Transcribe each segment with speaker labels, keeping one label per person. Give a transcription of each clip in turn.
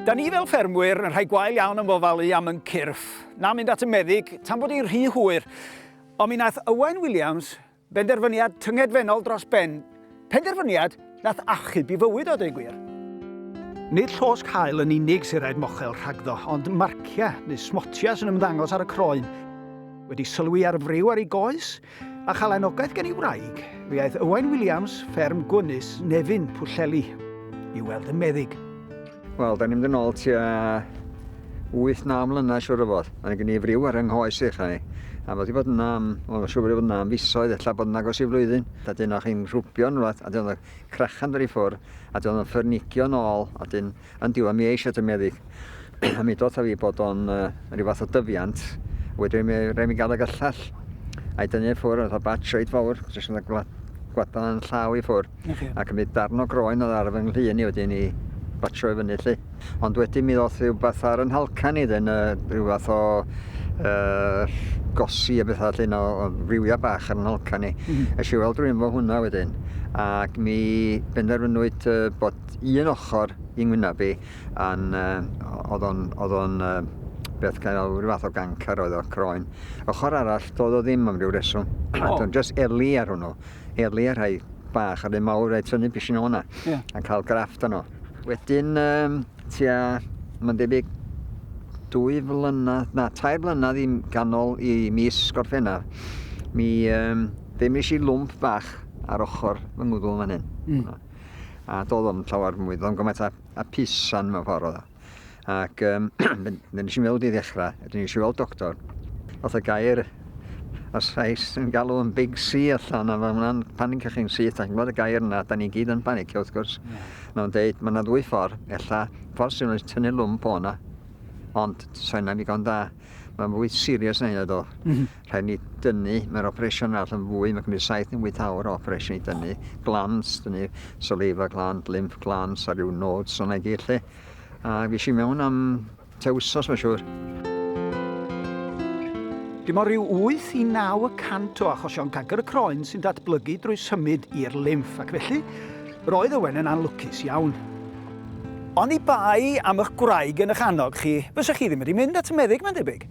Speaker 1: Da ni fel ffermwyr yn rhai gwael iawn am ofalu am yn cyrff, na mynd at y meddyg tan bod hi'n rhy hwyr. Ond mi nath Owain Williams benderfyniad tyngedfennol dros ben, penderfyniad nath achub i fywyd o dweud gwir. Nid llosg hael yn unig sy'n rhaid mochel rhagddo, ond marciau neu smotiau sy'n ymddangos ar y croen. Wedi sylwi ar friw ar ei goes? A chael anogaeth gen i wraig, fe aeth Ywain Williams, fferm Gwynus, Nefyn, Pwllheli, i weld y meddyg. Wel, da ni'n
Speaker 2: mynd yn ôl tua 8-9 mlynedd siwr o fod. Mae gen i friw ar yng nghoes i chai. A fod i fod yna am, wel, siwr bod i fod yna am fisoedd, ella bod yna agos i flwyddyn. Da dyn o'ch i'n rhwbio yn rhywbeth, a dyn o'ch crachan dod i ffwr, a dyn o'ch ffyrnigio yn ôl, a dyn Yn diwedd mi eisia dy meddyg a mi dotha fi bod o'n yy ryw fath o dyfiant wedyn mi rai' mi ga'l y gyllell a'i dynnu i ffwr' fatha batsh reit fowr jyst fatha gwla- gwlada 'yn llaw i ffwr'. Oce. Ac mi darn o groen o'dd ar fy nglŷn i wedyn i batsho i fyny 'lly. Ond wedyn mi ddoth rywbath ar 'yn nhalcan i 'dyn yy ryw fath o yy gosi a betha 'lly no- o rywiau bach ar 'yn nhalcan i. M-hm. Esh i weld rywun 'fo hwnna wedyn ac mi benderfynwyd yy bod un ochr i ngwyneb i a'n yy o'dd o'n o'dd o'n yy beth ga'i alw ryw fath o gancr oedd o croen. Ochor arall do'dd o ddim am ryw reswm. O! Do'n jyst eli ar hwnnw. Eli ar rhai bach a rhei mawr a'i tynnu pishyn o 'na. Ie. A ca'l grafft arno. Wedyn yym tua ma'n debyg dwy flynadd na tair blynadd i m- ganol i mis Gorffennaf mi yym fe nesh i lwmp bach ar ochor fy ngwddw fan 'yn. Hmm. a doedd o'n llawer mwy, doedd o'n gymaint a, a pisan mewn ffordd oedd o. Ac um, nes i'n meddwl di ddechrau, ydyn nes i weld doctor, oedd y gair y Sais yn galw yn Big C allan, a mae hwnna'n panic chi'n syth, ac yn gweld y gair yna, da ni gyd yn panic, wrth gwrs. Yeah. Mae'n deud, mae yna ddwy ffordd, ella, ffordd sy'n rhaid tynnu lwmp o'na, ond sain am ddigon da. Mae'n fwy serious na hynna do. Mm -hmm. Rhaid ni dynnu, mae'r operation arall yn fwy, mae'n cymryd 7 neu 8 awr o operation i dynnu. Glans, dynnu saliva gland, lymph glans a rhyw nodes o'na i gyd lle. A fi eisiau mewn am te wsos mae'n siŵr.
Speaker 1: Dim ond rhyw 8 i 9 y cant o achosion cancer y croen sy'n datblygu drwy symud i'r lymff ac felly roedd Owen yn anlwcus iawn. Oni bai am y'ch gwraig yn y'ch annog chi, fysa chi ddim wedi mynd at y meddyg, mae'n debyg?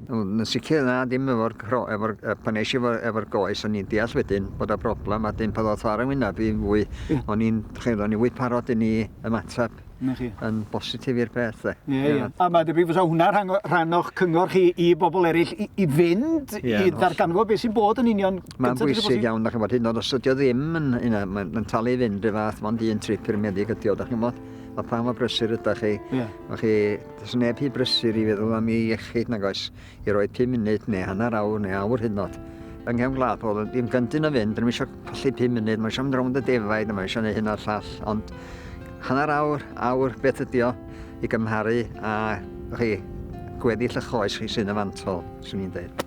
Speaker 1: Wel, yn sicr
Speaker 2: na, dim efo'r cro- efo'r yy pan es i efo efo'r goes o'n i'n deall wedyn bod y broblem a 'dyn pan ddoth o ar 'y ngwynab i fwy o'n i'n chi'n o'n i fwy parod i ni ymateb Na chi. yn bositif i'r peth 'de. Ie ie. Ie. A mae'n debyg
Speaker 1: fysa hwnna rhan o rhan o'ch cyngor chi i bobl eraill i i fynd Ie, yn i holl. ddarganfod beth sy'n bod yn union Mae'n bwysig iawn, da
Speaker 2: chi'n bod, hyn oed os ydi o ddim yn, yn, yn, yn, yn talu fynd y fath, mae'n un trip i'r meddyg ydi o, da chi'n bod. A pan mae brysur ydych chi, yeah. chi, does neb hi brysur i feddwl am ei iechyd nag oes, i roi 5 munud neu hanner awr neu awr hyn oed. Yng nghefn gwlad pobl, ddim gyntyn o fynd, ddim eisiau colli 5 munud, mae eisiau mynd rownd y defaid, mae eisiau gwneud hyn o'r llall, ond hanner awr, awr, beth ydi o, i gymharu a chi, gweddill y choes chi sy'n y fantol, swn i'n dweud.